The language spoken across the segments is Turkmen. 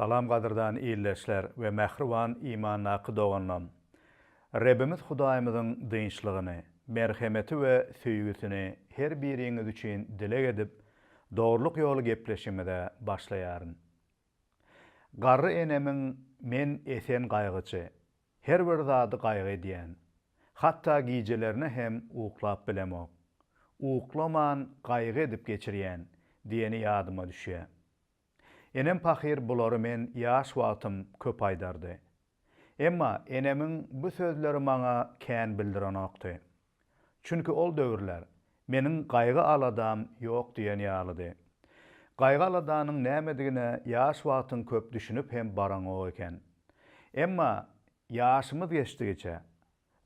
Salam gadyrdan ildeşler we mähriban imandaky doganlam! Rebimiz Hudaýymyzyň dynçlygyny, merhemeti we söýgüsini her biriňiz üçin dileg edip dogrulyk ýoly gepleşimize başlaýaryn. Garry enemiň men esen gaýgyçy, her bir zady gaýgy edýän, hatda gijelerine hem uklap bilemok, uklaman gaýgy edip geçirýän diýeni ýadyma düşýä. Enem pahyr bulary men ýaş wagtym köp aýdardy. Emma enemiň bu sözleri maňa kän bildirenokdy. Çünki ol döwürler meniň gaýgy-aladam ýok diýen ýalydy. Gaýgy-aladanyň nämedigine ýaş wagtyň köp düşünip hem baraňok eken. Emma ýaşymyz geçdigiçe,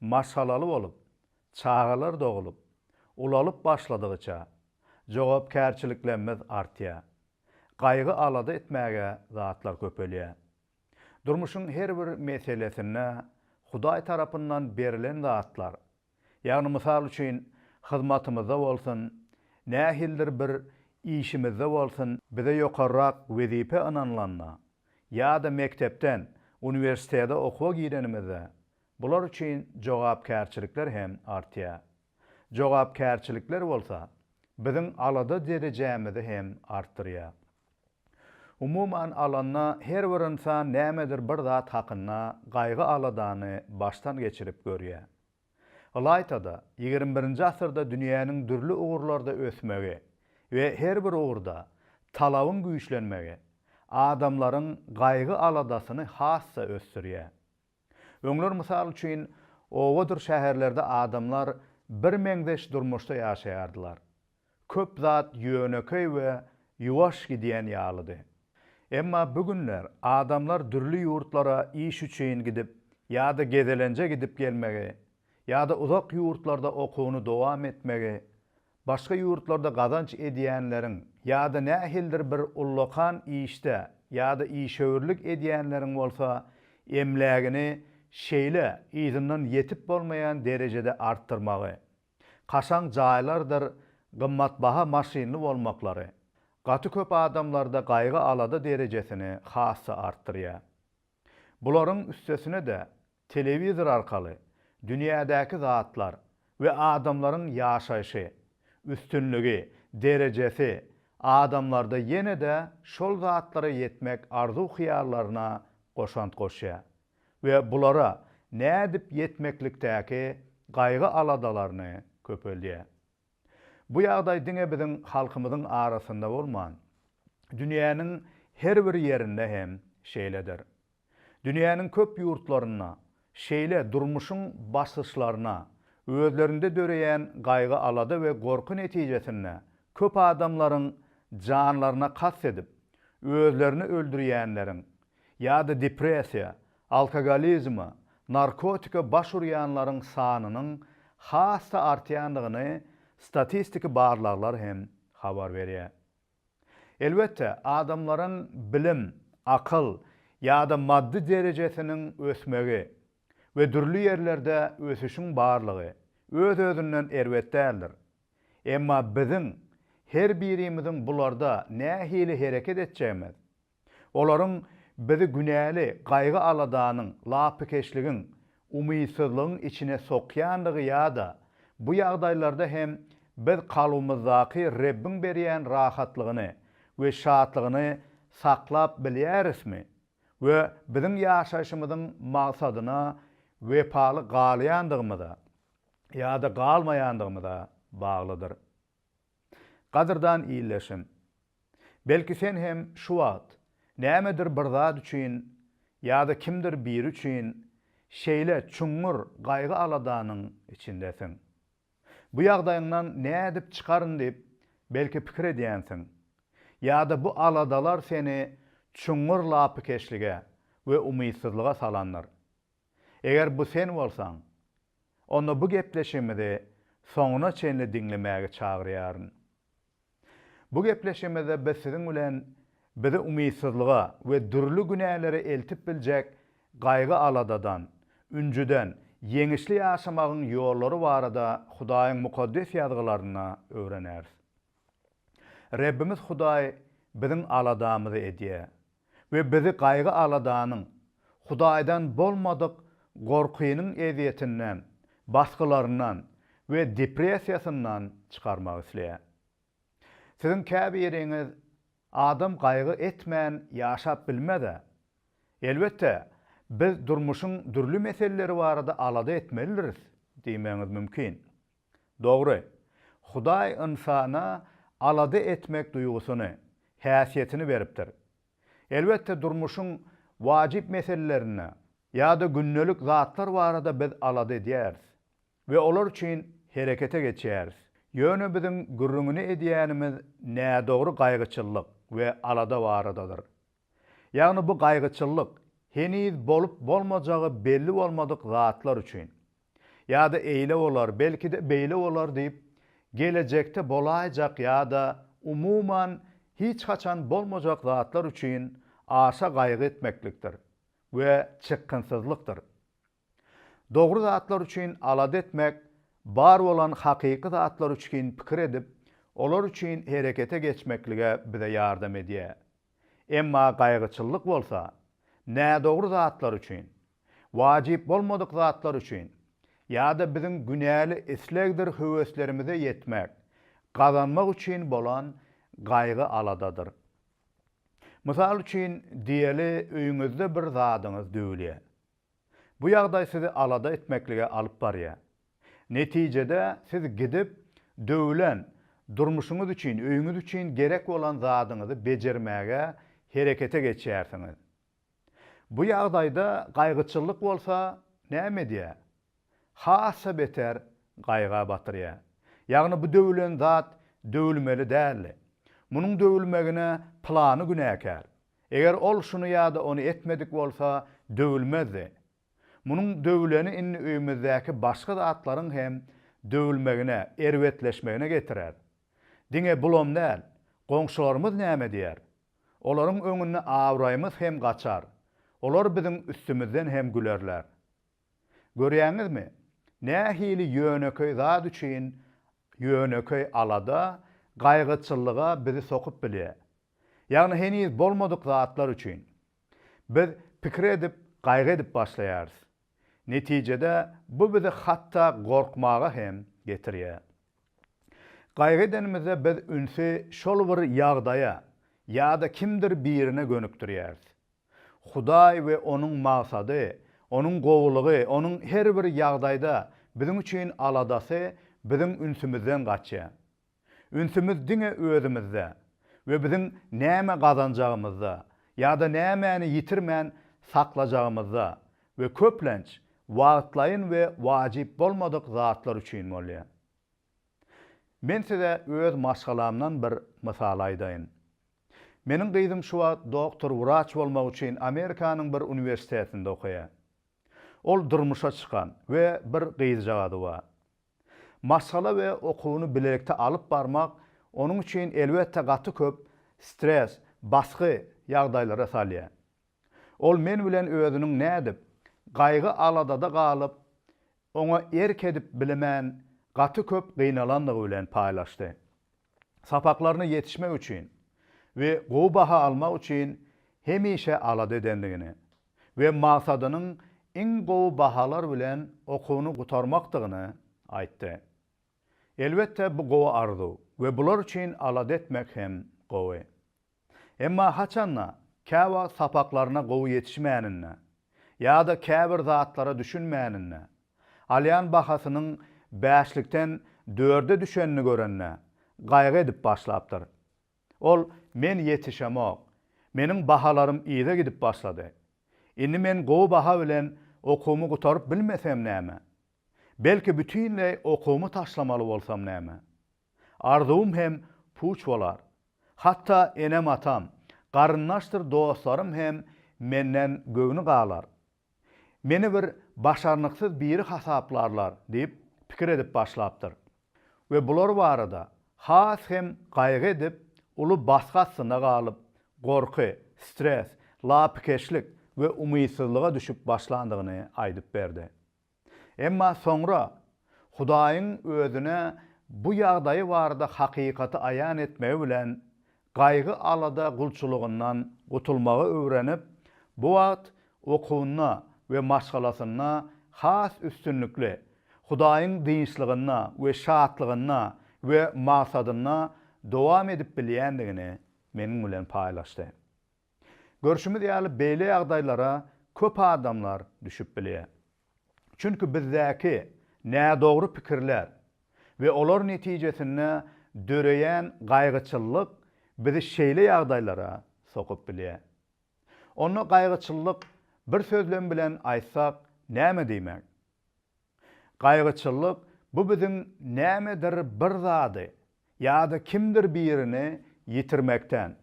maşgalaly bolup, çagalar doglup, ulalyp başladygyça, jogapkärçiliklemmiz artýar. Gaýgy-alada etmäge zatlar köpelýär. Durmuşyň her bir meselesinde Hudaý tarapyndan berilen zatlar, ýagny mysal üçin hyzmatymyzda bolsun, nähildir bir işimizde bolsun, bize ýokarrak wezipe ynanylanda ýa-da mekdepden uniwersitete okuwa girenimizde Bular üçin jogapkärçilikler hem artýar. Jogapkärçilikler bolsa, biziň alada derejämizi hem artdyrýar. Umuman alanda, her bir ynsan nämedir bir zat hakynda gaýgy-aladany başdan geçirip görýär. Ylaýta-da, ýigrimi birinji asyrda dünýäniň dürli ugurlarda ösmegi we her bir ugurda talabyň güýçlenmegi adamlaryň gaýgy-aladasyny has-da ösdürýär. Öňler mysal üçin, obadyr şäherlerde adamlar birmeňzeş durmuşda ýaşaýardylar. Köp zat ýönekeý we ýuwaş gidýän ýalydy. Emma bu günler adamlar dürli ýurtlara iş üçin gidip ýa-da gezelenje gidip gelmegi, ýa-da uzak ýurtlarda okuwyny dowam etmegi Başga ýurtlarda gazanç edýänleriň ýa-da nähilidir bir ullakan işde ýa-da işewürlik edýänleriň bolsa emlägini şeýle yzyndan ýetip bolmaýan derejede artdyrmagy, kaşaň jaýlardyr gymmatbaha maşynly bolmaklary, gaty köp adamlarda gaýgy-alada derejesini has-da artdyrýar. Bularyň üstesine-de telewizor arkaly dünýädäki zatlar we adamlaryň ýaşaýşy, üstünligi, derejesi, adamlarda ýene-de şol zatlara ýetmek arzuw-hyýallaryna goşant goşýar we bulara nädip ýetmeklikdäki gaýgy-aladalaryny köpeldýär. Bu ýagdaý diňe biziň halkymyzyň arasynda bolman, dünýäniň her bir ýerinde hem şeýledir. Dünýäniň köp ýurtlarynda şeýle durmuşyň basgyçlaryna, özlerinde döreýän gaýgy-alada we gorky netijesinde köp adamlaryň janlaryna kast edip, özlerini öldürýänleriň ýa-da depressiýa, Alkogolizme, narkotika baş urýanlaryň sanynyň has-da artýandygyny statistiki barlaglar hem habar berýär. Elbetde, adamlaryň bilim, akyl ýa-da maddy derejesiniň ösmegi we dürli ýerlerde ösüşiň barlygy öz-özünden erbet däldir. Emma biziň her birimiziň bularda nähili hereket etjegimiz, Olaryň bizi günäli gaýgy-aladanyň, lapykeçligiň, umytsyzlygyň içine sokýandygy ýa-da bu ýagdaýlarda hem biz kalbymyzdaky Rebbiň berýän rahatlygyny we şatlygyny saklap bilýärismi we biziň ýaşaýşymyzyň maksadyna wepaly galýandygymyza ýa-da galmaýandygymyza baglydyr. Gadyrdan ildeşim! Belki sen hem şu wagt nämedir bir zat üçin ýa-da kimdir biri üçin şeýle çuňňur gaýgy-aladanyň içindesiň. Bu ýagdaýyňdan nädip çykaryn diýip, belki pikir edýänsiň. Ýa-da bu aladalar seni çuňňur lapykeçlige we umytsyzlyga salandyr. Eger bu sen bolsaň, onda bu gepleşigimizi soňuna çenli diňlemäge çagyrýaryn. Bu gepleşigimizde biz siziň bilen bizi umytsyzlyga we dürli günälere eltip biljek gaýgy-aladadan, ünjüden ýeňişli ýaşamagyň ýollary barada Hudaýyň Mukaddes Ýazgylarynda öwreneris. Rebbimiz Hudaý biziň aladamyzy edýär we bizi gaýgy-aladanyň, Hudaýdan bolmadyk gorkynyň ezýetinden, basgylaryndan we depressiýasyndan çykarmak isleýär. Siziň käbiriňiz, Adam gaýgy etmän ýaşap bilmez-ä. Elbetde, biz durmuşyň dürli meseleleri barada alada etmelidiris diýmegiňiz mümkin. Dogry, Hudaý ynsana alada etmek duýgusyny, häsiýetini beripdir. Elbetde, durmuşyň wajyp meselelerinde ýa-da gündelik zatlar barada biz alada edýäris we olar üçin herekete geçýäris. Ýöne biziň gürrüňini edýänimiz nädogry gaýgyçyllyk we alada baradadyr. Ýagny bu gaýgyçyllyk heniz bolup bolmajagy belli bolmadyk zatlar üçin. Ýa-da eýle bolar, belki-de beýle bolar diýip, gelejekde bolaýjak ýa-da umuman hiç haçan bolmajak zatlar üçin aşa gaýgy etmeklikdir we çykgynsyzlykdyr. Dogry zatlar üçin alada etmek, bar bolan hakyky zatlar üçin pikir edip, olar üçin herekete geçmeklige bize ýardam edýär. Emma gaýgyçyllyk bolsa, nädogry zatlar üçin, wajyp bolmadyk zatlar üçin ýa-da biziň günäli islegdir höweslerimize ýetmek, gazanmak üçin bolan gaýgy-aladadyr. Mysal üçin, diýeli, öýüňizde bir zadyňyz döwülýär. Bu ýagdaý sizi alada etmeklige alyp barýar. Netijede siz gidip, döwlen, durmuşyňyz üçin, öýüňiz üçin gerek bolan zadyňyzy bejermäge herekete geçýärsiňiz. Bu ýagdaýda gaýgyçyllyk bolsa näme edýär? Has-a beter gaýga batyrýar. Ýagny bu döwlen zat döwülmeli däldi. Munuň döwülmegine pylany günäkär, Eger ol şuny ýa-da ony etmedik bolsa, döwülmezdi. Munuň döwüleni indi öýümizdäki başga zatlaryň hem döwülmegine, erbetleşmegine getirer. Diňe bulam däl, goňşularymyz näme diýer? Olaryň öňünde abraýymyz hem gaçar, olar biziň üstümizden hem gülerler. Görýäňizmi, nähili ýönekeý zat üçin ýönekeý alada, gaýgyçyllyga bizi sokup bilýär? Ýagny heniz bolmadyk zatlar üçin biz pikir edip, gaýgy edip başlaýarys. Netijede bu bizi hatda gorkmaga hem getirýär. Gaýgy edenimizde biz ünsi şol bir ýagdaýa ýa-da kimdir birine gönükdirýäris. Hudaý we onuň magsady, onuň gowulygy, onuň her bir ýagdaýda biziň üçin aladasy biziň ünsümizden gaçýar. Ünsümiz diňe özümizde we biziň näme gazanjagymyzda ýa-da nämäni ýitirmän saklajagymyzda we köplenç wagtlaýyn we wajyp bolmadyk zatlar üçin bolýar. Men size öz maşgalamdan bir mysal aýdaýyn. Meniň gyzym şu wagt doktor wraç bolmak üçin Amerikanyň bir uniwersitetinde okaýar. Ol durmuşa çykan we bir gyzjagazy bar. Maşgala we okuwyny bilelikde alyp barmak onuň üçin elbetde gaty köp stres, basgy ýagdaýlara salýar. Ol men bilen özüniň nädip, gaýgy-aladada galyp, oňa erk edip bilemän gaty köp gynalandygy bilen paýlaşdy. Sapaklaryna ýetişmek üçin we gowy baha almak üçin hemişe alada edendigini, we maksadynyň iň gowy bahalar bilen okuwyny gutarmakdygyny aýtdy. Elbetde, bu gowy arzuw we bular üçin alada etmek hem gowy. Emma haçanda, käwagt sapaklaryna gowy ýetişmäninde ýa-da käbir zatlara düşünmäninde, alýan bahasynyň bäşlikden dörde düşenini görende, gaýgy edip başlapdyr. Ol, Men ýetişemok. Meniň bahalarym yza gidip başlady. Indi men gowy baha bilen okuwymy gutaryp bilmesem näme? Belki bütinleý okuwymy taşlamaly bolsam näme? Arzuwym hem puç bolar. Hatda enem-atam, garyndaşdyr dostlarym hem menden göwni galar. Meni bir başarnyksyz biri hasaplarlar diýip pikir edip başlapdyr we bular barada has hem gaýgy edip, uly basgy astynda galyp, gorky, stres, lapykeçlik we umytsyzlyga düşüp başlandygyny aýdyp berdi. Emma soňra Hudaýyň özüne bu ýagdaýy barada hakykaty aýan etmegi bilen Gaýgy-alada gulçulygyndan gutulmagy öwrenip, bu wagt okuwynda we maşgalasynda has üstünlikli, Hudaýyň dynçlygynda we şatlygynda we maksadynda dowam edip bilýändigini meniň bilen paýlaşdy. Görşümiz ýaly, beýle ýagdaýlara köp adamlar düşüp bilýär. Çünki bizdäki nädogry pikirler we olar netijesinde döreýän gaýgyçyllyk bizi şeýle ýagdaýlara sokup bilýär. Onda gaýgyçyllyk bir sözlem bilen aýtsak näme diýmek? Gaýgyçyllyk bu biziň nämedir bir zady ýa-da kimdir birini ýitirmekden,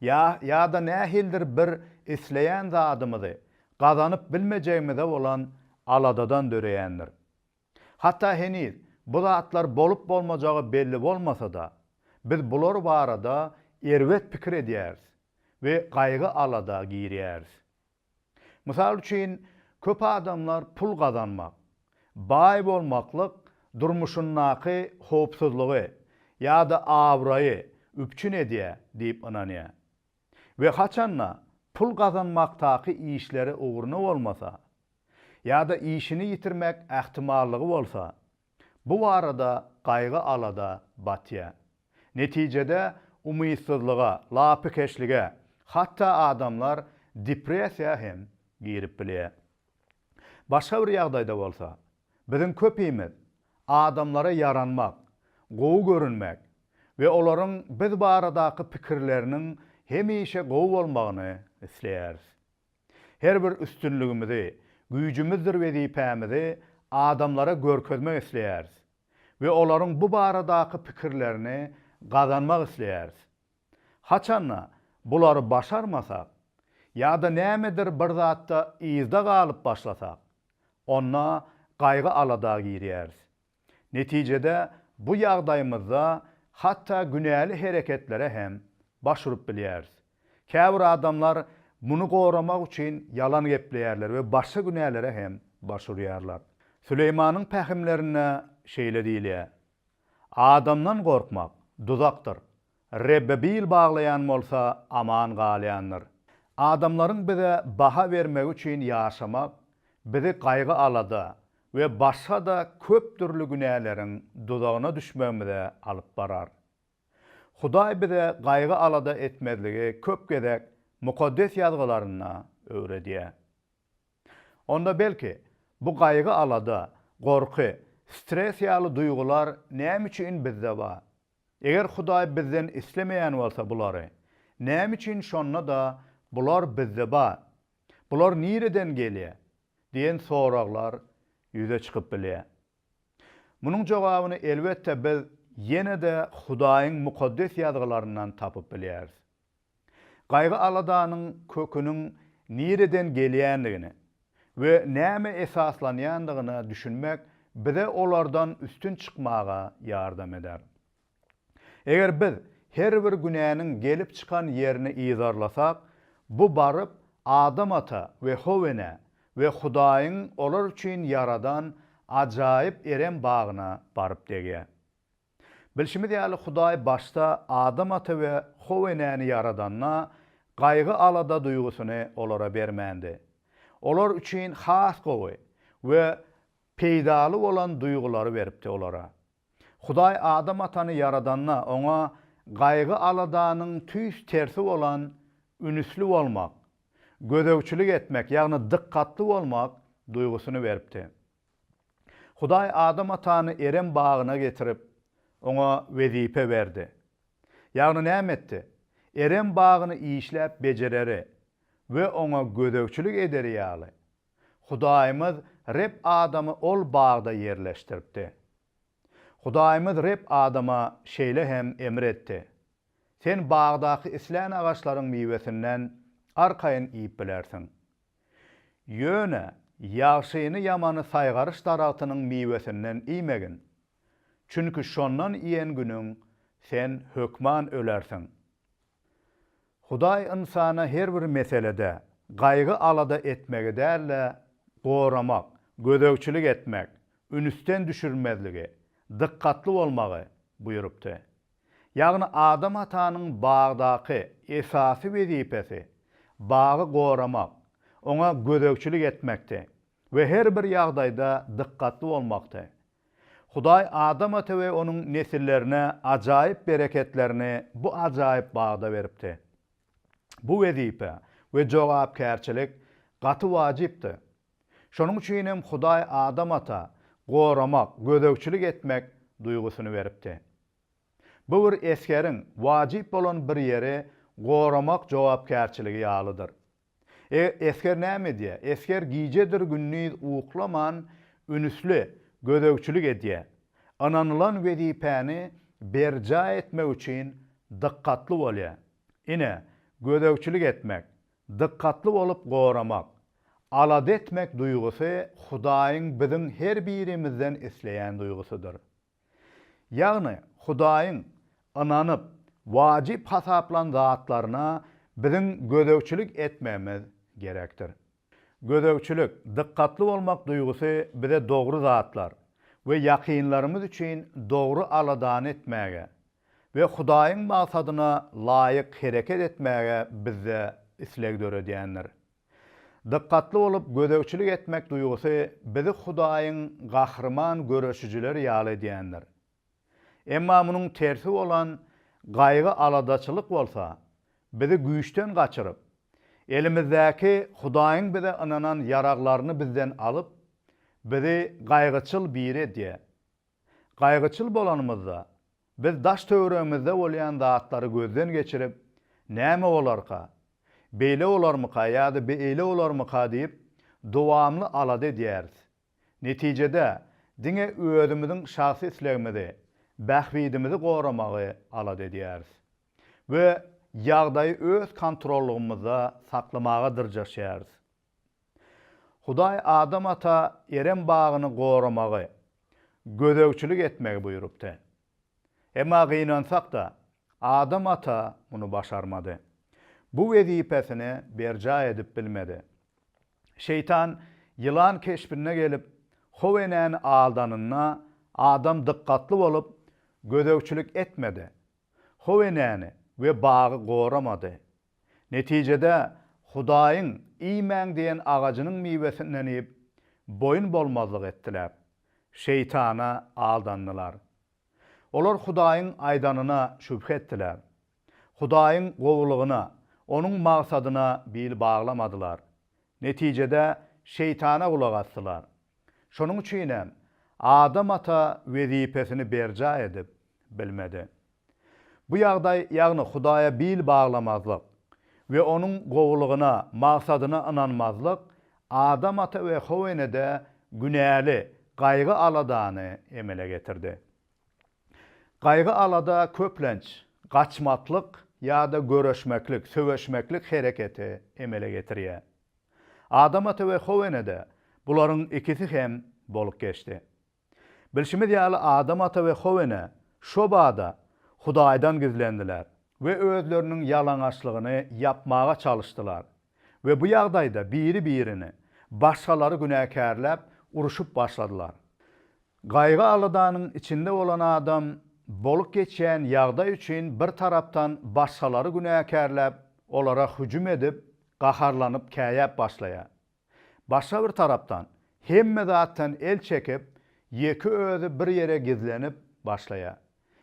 Ýa, ýa-da nähilidir bir isleýän zadymyzy gazanyp bilmejegimize bolan aladadan döreýändir. Hatda heniz bu zatlar bolup-bolmajagy belli bolmasa-da, biz bular barada erbet pikir edýäris we gaýgy-alada girýäris. Mysal üçin, köp adamlar pul gazanmak, baý bolmaklyk durmuşyndaky howpsuzlygy ýa-da abraýy üpjün edýär diýip ynanýar we haçan-da pul gazanmakdaky işleri ugruna bolmasa ýa-da işini ýitirmek ähtimallygy bolsa, Bu barada gaýgy-alada batýar. Netijede umytsyzlyga, lapykeçlige, hatda adamlar depressiýa hem girip bilýär. Başga bir ýagdaýda bolsa, biziň köpimiz adamlara ýaranmak, gowy görünmek we olaryň biz baradaky pikirleriniň hemişe gowy bolmagyny isleýäris. Her bir üstünligimizi, güýjümizdir wezipämizi adamlara görkezmek isleýäris we olaryň bu baradaky pikirlerini gazanmak isleýäris. Haçan-da, bulary başarmasak ýa-da nämedir bir zatda yzda galyp başlasak, onda gaýgy-alada girýäris. Netijede bu ýagdaýymyzda hatda günäli hereketlere hem baş urup bilýäris. Käbir adamlar muny goramak üçin ýalan gepleýärler we başga günälere hem baş urýarlar. Süleýmanyň pähimlerinde şeýle diýilýär, Adamdan gorkmak, duzakdyr. Rebbe bil baglaýan bolsa aman galýandyr. Adamlaryň bize baha bermegi üçin ýaşamak bizi gaýgy-alada we başga-da köp dürli günäleriň duzagyna düşmegimize alyp barar. Hudaý bize gaýgy-alada etmezligi köp gezek Mukaddes Ýazgylarynda öwredýär. Onda belki, bu gaýgy-alada, gorky, stres ýaly duýgular näme üçin bizde bar? Eger Hudaý bizden islemeýän bolsa bulary, näme üçin şonda-da bular bizde bar? Bular nireden gelýär? diýen soraglar ýüze çykyp bilýär. Munuň jogabyny elbetde biz ýene-de Hudaýyň Mukaddes Ýazgylaryndan tapyp bilýäris. Gaýgy-aladanyň köküniň nireden gelýändigine we nämä esaslanýandygyna düşünmek bize olardan üstün çykmaga ýardam eder. Eger biz her bir günäniň gelip çykan ýerini yzarlasak, bu baryp Adam ata we How enä we Hudaýyň olar üçin ýaradan ajaýyp erem bagyna baryp degýär. Bilşimiz ýaly, Hudaý başda Adam ata we How enäni ýaradanda, gaýgy-alada duýgusyny olara bermändi. Olar üçin has gowy we peýdaly bolan duýgulary beripdi olara. Hudaý Adam atany ýaradanda, oňa gaýgy-aladanyň tüýs tersi bolan ünüsli bolmak, gözegçilik etmek, ýagny dykgatly bolmak duýgusyny beripdi. Hudaý Adam atany Erem bagyna getirip, oňa wezipe berdi. Ýagny näme etdi? Erem bagyny işläp bejereri we oňa gözegçilik ederi ýaly, Hudaýymyz Reb Adamy ol bagda ýerleşdiripdi. Hudaýymyz Reb Adama şeýle hem emr etdi. Sen bagdaky islän agaçlaryň miwesinden arkaýyn iýip bilersiň. Ýöne ýagşyny-ýamany saýgaryş daragtynyň miwesinden iýmegin. Çünki şondan iýen günüň sen hökman ölersiň. Hudaý ynsana her bir meselede gaýgy-alada etmegi däl-de, goramak, gözegçilik etmek, ünsden düşürmezligi, dykgatly bolmagy buýrupdy. Ýagny Adam atanyň bagdaky esasy wezipesi bagy goramak, oňa gözegçilik etmekdi we her bir ýagdaýda dykgatly bolmakdy. Hudaý Adam ata we onuň nesillerine ajaýyp bereketlerini bu ajaýyp bagda beripdi. Bu wezipe we jogapkärçilik gaty wajypdy. Şonuň üçin hem Hudaý Adam ata goramak, gözegçilik etmek duýgusyny beripdi. Bu bir esgeriň wajyp bolan bir ýeri goramak jogapkärçiligi ýalydyr. Eger esger näme edýär? Esger gijedir-gündiz uklaman ünsli gözegçilik edýär. Ynanylan wezipäni berjaý etmek üçin dykgatly bolýar. Ine, gözegçilik etmek, Dykgatly bolup goramak, alada etmek duýgusy Hudaýyň biziň her birimizden isleýän duýgusydyr. Ýagny, Hudaýyň ynanyp, wajyp hasaplan zatlaryna biziň gözegçilik etmegimiz gerekdir. Gözegçilik, dykgatly bolmak duýgusy bize dogry zatlar we ýakynlarymyz üçin dogry aladany etmäge, we Hudaýyň maksadyna laýyk hereket etmäge bizde isleg döredýändir. Dykgatly bolup gözegçilik etmek duýgusy bizi Hudaýyň gahryman göreşijileri ýaly edýändir. Emma munuň tersi bolan gaýgy-aladaçylyk bolsa, bizi güýçden gaçyryp, elimizdäki Hudaýyň bize ynanan ýaraglaryny bizden alyp, bizi gaýgyçyl biri edýär. Gaýgyçyl bolanymyzda, biz daş-töweregimizde bolýan zatlary gözden geçirip, Näme bolarka? Beýle bolarmyka ýa-da beýle bolarmyka diýip, dowamly alada edýäris. Netijede, diňe özümiziň şahsy islegimizi, bähbidimizi goramagy alada edýäris we ýagdaýy öz kontrollygymyzda saklamaga dyrjaşýarys. Hudaý Adam ata Erem bagyny goramagy, gözegçilik etmegi buýrupdy. Emma gynansak-da, Adam ata muny başarmady. Bu wezipesini berjaý edip bilmedi. Şeýtan ýylan keşbinde gelip, How enäni aldanynda, Adam dykgatly bolup, gözegçilik etmedi. How enäni we bagy goramady. Netijede, Hudaýyň, Iýmäň diýen agajynyň miwesinden iýip, boýun bolmazlyk etdiler. Şeýtana aldandylar. Olar Hudaýyň aýdanyna şübhe etdiler. Hudaýyň gowulygyna, Onuň magsadyna bil baglamadylar. Netijede, Şeýtana gulak asdylar. Şonuň üçin hem, Adam ata wezipesini berjaý edip bilmedi. Bu ýagdaý, ýagny Hudaýa bil baglamazlyk we Onuň gowulygyna, maksadyna ynanmazlyk Adam ata we How enede günäli, gaýgy-aladany emele getirdi. Gaýgy-alada köplenç gaçmaklyk ýa-da göreşmeklik, söweşmeklik hereketi emele getirýär. Adam ata we How enede bularyň ikisi hem bolup geçdi. Bilşimiz ýaly Adam ata we How ene şo bada Hudaýdan gizlendiler we özleriniň ýalaňaçlygyny ýapmaga çalyşdylar we bu ýagdaýda biri birini başgalary günäkärläp uruşyp başladylar. Gaýgy aladanyň içinde bolan adam bolup geçýän ýagdaý üçin bir tarapdan başgalary günäkärläp olara hüjüm edip gaharlanyp käýäp başlaýar Başga bir tarapdan, hemme zatdan el çekip, ýeke özi bir ýere gizlenip başlaýar.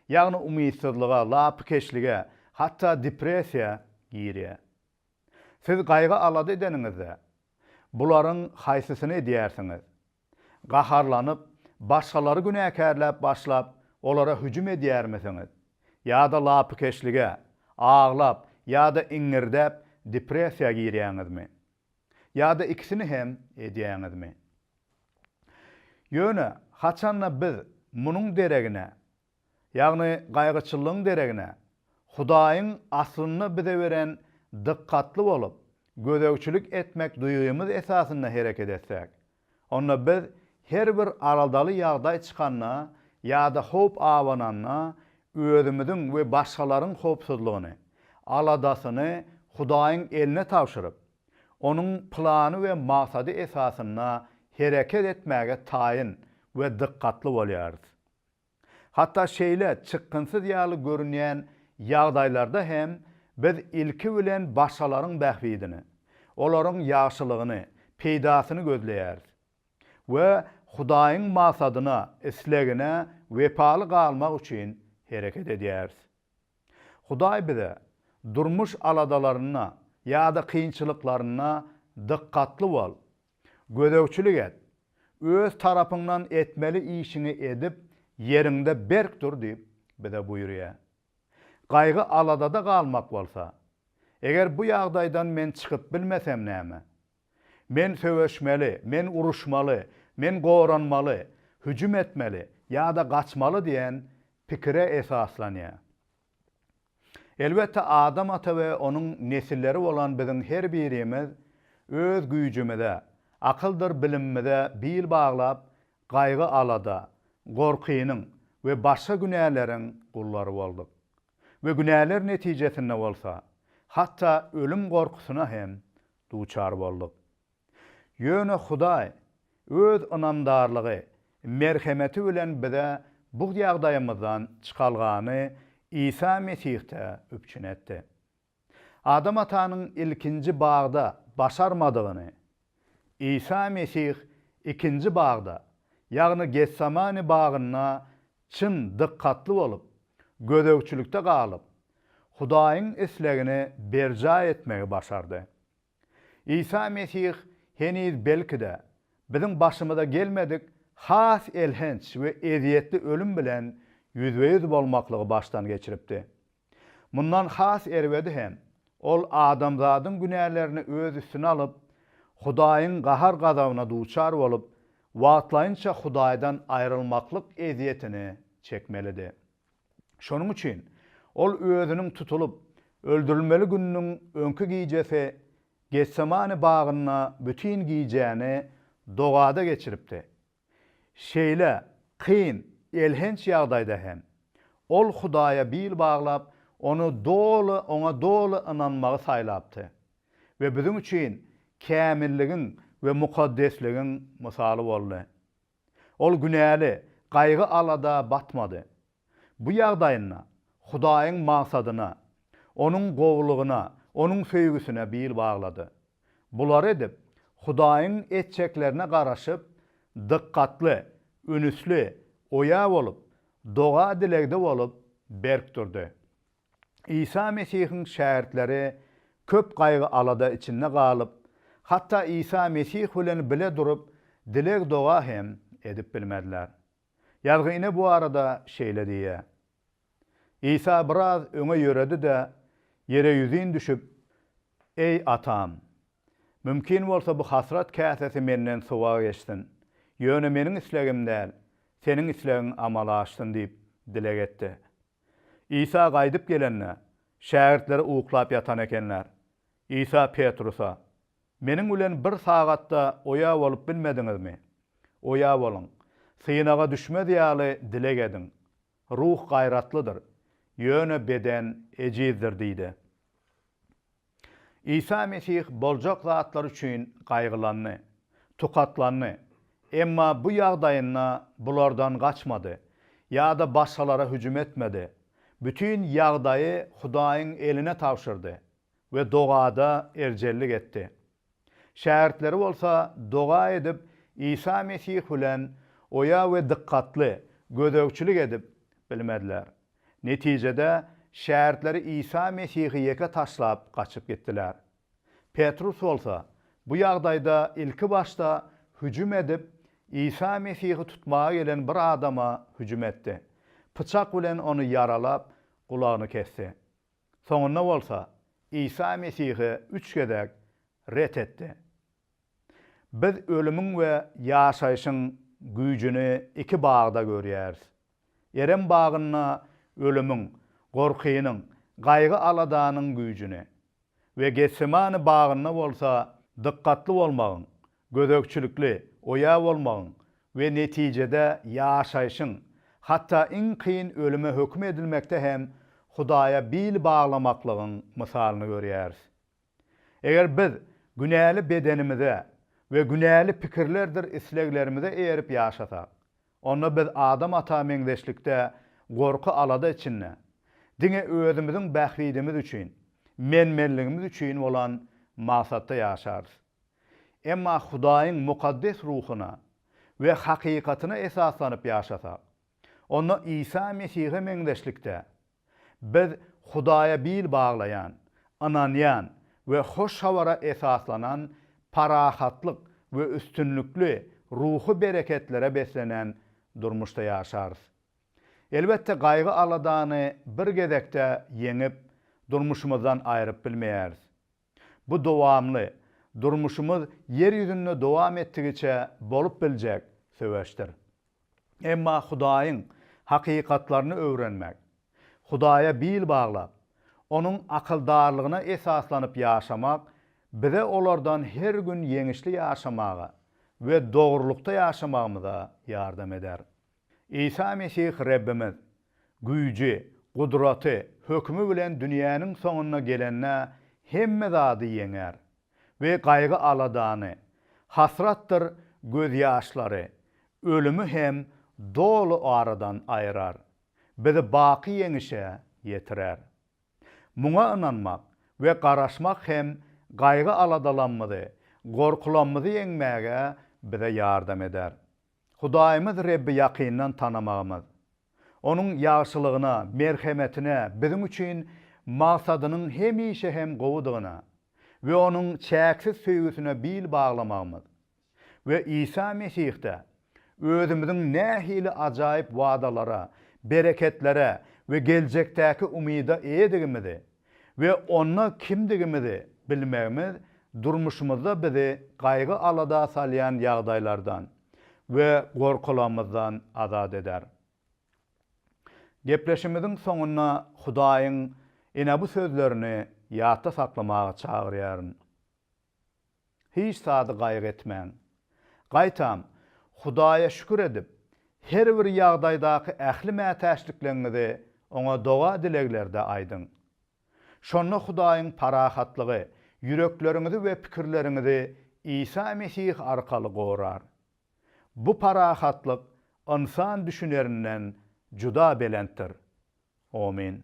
Ýagny umytsyzlyga, lapykeçlige, hatda depressiýa girýär. Siz gaýgy-alada edeniňizde, bularyň haýsysyny edýärsiňiz? Gaharlanyp, başgalary günäkärläp başlap, olara hüjüm edýärmisiňiz? Ýa-da lapykeçlige, aglap ýa-da iňňirdäp depressiýa girýäňizmi? Ýa-da ikisini hem edýäňizmi? Ýöne haçanda biz munuň deregine, ýagny gaýgyçyllygyň deregine Hudaýyň aslynda bize beren dykgatly bolup, gözegçilik etmek duýgymyz esasynda hereket etsäk, Onda biz her bir aladaly ýagdaý çykanda ýa-da howp abananda özümiziň we başgalaryň howpsuzlygyny, aladasyny Hudaýyň eline tabşyryp, Onuň plany we maksady esasynda hereket etmäge taýyn we dykgatly bolýarys. Hatda şeýle çykgynsyz ýaly görünýän ýagdaýlarda hem biz ilki bilen başgalaryň bähbidini, olaryň ýagşylygyny, peýdasyny gözleýäris we Hudaýyň maksadyna, islegine wepaly galmak üçin hereket edýäris. Hudaý bize durmuş aladalarynda ýa-da kynçylyklarynda dykgatly bol Gözegçilik et. Öz tarapyňdan etmeli işiňi edip, ýeriňde berk dur diýip, bize buýurýar. Gaýgy-aladada galmak bolsa, Eger bu ýagdaýdan men çykyp bilmesem näme? Men söweşmeli, men uruşmaly, men goranmaly, hüjüm etmeli ýa-da gaçmaly diýen pikire esaslanýar. Elbetde, Adam ata we onuň nesilleri bolan biziň her birimiz öz güýjümize, akyldyr bilimimize bil baglap, gaýgy-alada, gorkynyň we başga günäleriň gullary bolduk. We günäler netijesinde bolsa, hatda ölüm gorkusyna hem duçar bolduk. Ýöne Hudaý Öz ynamdarlygy, merhemeti bilen bize bu ýagdaýymyzdan çykalgany Isa Mesihde üpjün etdi. Adam atanyň ilkinji bagda başarmadygyny Isa Mesih ikinji bagda, ýagny Getsemane bagynda çyn dykgatly bolup, gözegçilikde galyp, Hudaýyň islegini berjaý etmegi başardy. Isa Mesih heniz belki-de, biziň başymyza gelmedik has elhenç we ezýetli ölüm bilen ýüzbe-ýüz bolmaklygy başdan geçiripdi. Mundan has erbedi hem, ol adamzadyň günälerini öz üstüne alyp, Hudaýyň gahar-gazabyna duçar bolup, wagtlaýynça Hudaýdan aýrylmaklyk ezýetini çekmelidi. Şonuň üçin ol özüniň tutulyp, öldürilmeli gününiň öňki gijesi Getsemane bagynda bütin gijäni dogada geçiripdi. Şeýle kyn, elhenç ýagdaýda hem, ol Hudaýa bil baglap, Ony doly, Oňa doly ynanmagy saýlapdy we biziň üçin kämilligiň we mukaddesligiň mysaly boldy. Ol günäli, gaýgy-alada batmady. Bu ýagdaýynda Hudaýyň magsadyna, Onuň gowulygyna, Onuň söýgüsine bil baglady. Bulary edip, Hudaýyň etjeklerine garaşyp, dykgatly, ünüsli, oýa bolup, doga-dilegde bolup, berk durdy. Isa Mesihiň şägirtleri köp gaýgy-alada içinde galyp, hatda Isa Mesih bilen bile durup, dileg-doga hem edip bilmediler. Ýazgy ine bu barada şeýle diýýär, Isa biraz öňe ýöredi-de, ýere ýüzin düşüp, Eý, Atam! Mümkin bolsa bu hasrat käsesi menden suwa geçsin, ýöne meniň islegim däl, Seniň islegiň amala aşsyn diýip dileg etdi. Isa gaýdyp gelende, şägirtleri uklap ýatan ekenler. Isa Petrusa, Meniň bilen bir sagat-da oýa bolup bilmediňizmi? Oýa boluň. Synaga düşmez ýaly dileg ediň. Ruh gaýratlydyr, ýöne beden ejizdir diýdi. Isa Mesih boljak zatlar üçin gaýgylandy, tukatlandy, emma bu ýagdaýynda bulardan gaçmady ýa-da başgalara hüjüm etmedi. Bütin ýagdaýy Hudaýyň eline tabşyrdy we dogada erjellik etdi. Şägirtleri bolsa doga edip, Isa Mesih bilen oýa we dykgatly gözegçilik edip bilmediler. Netijede, şägirtleri Isa Mesihi ýeke taşlap gaçyp gitdiler. Petrus bolsa bu ýagdaýda ilkibaşda hüjüm edip, Isa Mesihi tutmaga gelen bir adama hüjüm etdi. Pyçak bilen ony ýaralap, gulagyny kesdi. Soňunda bolsa Isa Mesihi üç gezek ret etdi. Biz ölümiň we ýaşaýşyň güýjüni iki bagda görýäris. Erem bagynda ölümiň, gorkynyň, gaýgy-aladanyň güýjüni we Getsemane bagynda bolsa dykgatly bolmagyň, Gözegçilikli, oýa bolmagyň we netijede ýaşaýşyň, hatda iň kyn ölüme höküm edilmekde hem Hudaýa bil baglamaklygyň mysalyny görýäris. Eger biz günäli bedenimize we günäli pikirlerdir isleglerimize eýerip ýaşasak, onda biz Adam ata meňzeşlikde gorky-alada içinde, diňe özümiziň bähbidimiz üçin, men-menligimiz üçin bolan maksatda ýaşarys. Emma Hudaýyň mukaddes ruhuna we hakykatyna esaslanyp ýaşasak, onda Isa Mesihe meňzeşlikde, biz Hudaýa bil baglaýan, ynanýan we hoş habara esaslanan parahatlyk we üstünlikli ruhy bereketlere beslenen durmuşda ýaşarys. Elbetde, gaýgy-aladany bir gezekde ýeňip, durmuşymyzdan aýryp bilmeýäris. Bu dowamly, durmuşymyz Ýer ýüzünde dowam etdigiçe bolup biljek söweşdir. Emma Hudaýyň hakykatlaryny öwrenmek, Hudaýa bil baglap, Onuň akyldarlygyna esaslanyp ýaşamak bize olardan her gün ýeňişli ýaşamaga we dogrulykda ýaşamagymyza ýardam eder. Isa Mesih Rebbimiz, güýji, gudraty, hökümi bilen dünýäniň soňuna gelende hemme zady ýeňer we gaýgy-aladany, hasratdyr gözýaşlary, ölümi hem doly aradan aýrar, bizi baky ýeňişe ýetirer. Muňa ynanmak we garaşmak hem gaýgy-aladalamyzy, gorkulamyzy ýeňmäge bize ýardam eder. Hudaýymyz Rebbi ýakyndan tanamagymyz, Onuň ýagşylygyna, merhemetine, biziň üçin maksadynyň hemişe hem gowudygyna we Onuň çäksiz söýgüsine bil baglamagymyz we Isa Mesihde özümiziň nähili ajaýyp wadalara, bereketlere we geljekdäki umyda eýedigimizi we onda kimdigimizi bilmegimiz durmuşymyzda bizi gaýgy-alada salýan ýagdaýlardan we gorkularymyzdan azat eder. Gepleşimiziň soňunda Hudaýyň ine bu sözlerini ýatda saklamaga çagyrýaryn. Hiç zady gaýgy etmäň. Gaýtam, Hudaýa şükür edip, her bir ýagdaýdaky ähli mätäçlikleňňizi Oňa doga-dileglerde aýdyň. Şonda Hudaýyň parahatlygy ýürekleriňizi we pikirleriňizi Isa Mesih arkaly gorar. Bu parahatlyk ynsan düşünerinden juda belentdir. Omyn.